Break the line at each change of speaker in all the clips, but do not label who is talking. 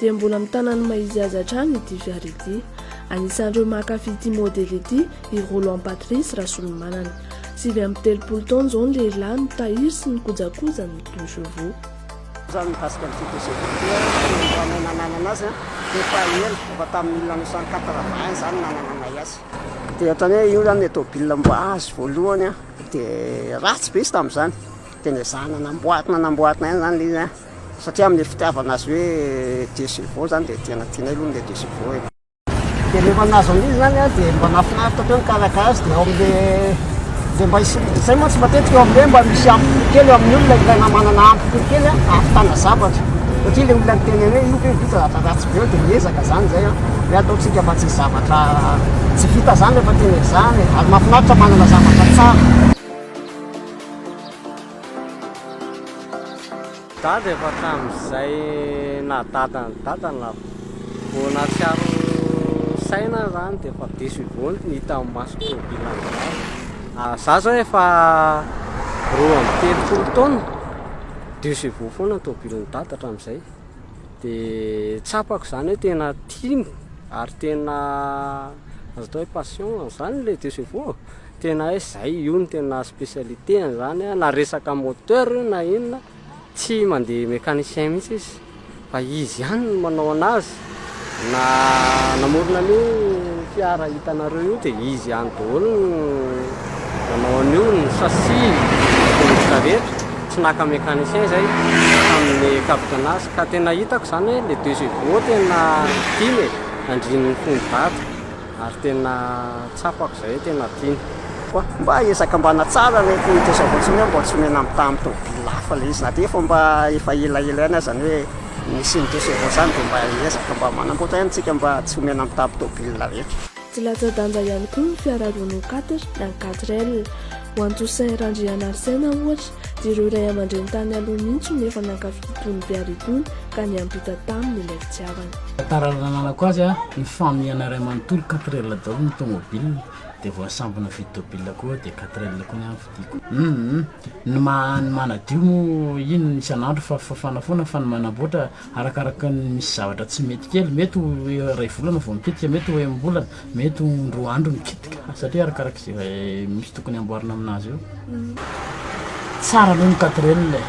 dia mbola mitana ny maha izy azy hatrany ity fiara ity. Anisan'ireo mankafy ity modely ity i Roland Patrice Rasolomanana. Sivy amby telopolo taona izao ny lehilahy no tahiry sy ny kojakoja ny pneus chevaux. Izany
mikasika an'ity pneus chevaux ity dia talohanay nananana azy dia efa ela, efa tamin'ny mille neuf cent quatre vingt izany no nanananay azy. Dia ohatran'ny hoe io izany ilay tomobilina mba azo voalohany dia ratsy be izy tamin'izany dia nezahina namboatina namboatina ihany izany ilay izy. Satria amin'ilay fitiavana azy hoe Dieu c'est bon izany dia tena tianay aloha ilay Dieu c'est bon e. Dia rehefa nahazo an'iny izany aho dia mba nahafinaritra be mikarakara azy dia ao amin'ilay dia mba hisy izay mantsy matetika eo amin'ilay hoe mba misy ampokoly kely eo amin'ny olona ilaina manana ampokoly kely hahavitana zavatra satria ilay olona niteny anay hoe io ve vita zavatra ratsy be eo dia miezaka izany izay an hoe ataontsika fa tsisy zavatra tsy vita izany rehefa tena izany e. Ary mahafinaritra manana zavatra tsara.
Dada efa hatramin'izay naha dada an'i dada ny lava vao nahatsiaro saina zany dia efa diso ivony ny hita amin'ny maso tômôbila an'i dada ah, za zao efa roa amby telopolo taona diso ivoa foana ny tômôbilin'i dada hatramin'izay dia tsapako zany hoe tena tiany ary tena azo atao hoe passion zany le diso ivoa Tena hay zay io no tena specialité ny zany a, na resaka moteur io na inona tsy mandeha mecanicien mihitsy izy fa izy ihany no manao anazy, na namorona an'io fiara hitanareo io dia izy ihany daholo no nanao an'io, ny chassis, ny tongotra rehetra, tsy naka mecanicien zay tamin'ny capot anazy, ka tena hitako zany hoe le deux chevaux tena tiany e, andrininy fony vata. Ary tena tsapako izay hoe tena tiany. Koa mba
ezaka mba hanatsara ilay politesse avao tsy hoe mba tsy omena mitaha amin'ny tomobil hafa ilay izy na dia efa mba efa ela ela ihany aza ny hoe nisy ny dossier voasana dia mba ezaka mba manamboatra ihany isika mba tsy omena mitaha amin'ny tomobil rehetra. Tsy latsa-danja
ihany koa ny fiarahadohan'ny quatre na ny quatre L. Ho an'i Toussaint Randrianarisena ohatra Ireo ray aman-dreny tany aloha mihitsy no efa nankafy itony Bear itony ka niampita taminy ilay fitiavana. Tantara nananako azy,
nifamihana iray manontolo, quatre elle daholo ny tomobile dia vao nisambina vide tobile koa dia quatre elle koa ny ahy no fidiko. Humm ny maha ny manadio moa ino isan'andro fa fa fanafoana fa ny manamboatra arakaraky ny misy zavatra tsy mety kely mety ho iray volana vao mitetika mety ho enimbolana Mety ho roa andro ny kitika satria arakaraka izay misy tokony hamboarina amin'azy eo. Tsara aloha ny quatrelle e.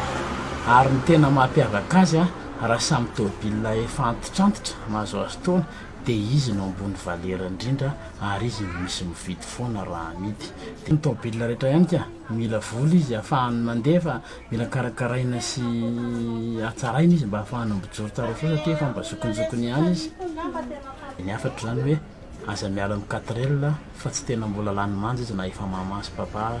Ary ny tena mahapiavaka azy a, raha samy tôbila efa antitrantitra mahazoazo taona dia izy no ambony valera indrindra ary izy no misy mividy foana raha amidy. Dia ny tôbila rehetra ihany ka, mila vola izy ahafahany mandeha fa Mila karakaraina sy hatsaraina izy mba hahafahana mijoro tsara soa satria efa mba zokinjokiny ihany izy. Ny hafatra izany hoe aza miala amin'ny quatre L fa tsy tena mbola lany manja izy na efa mama sy papa aza.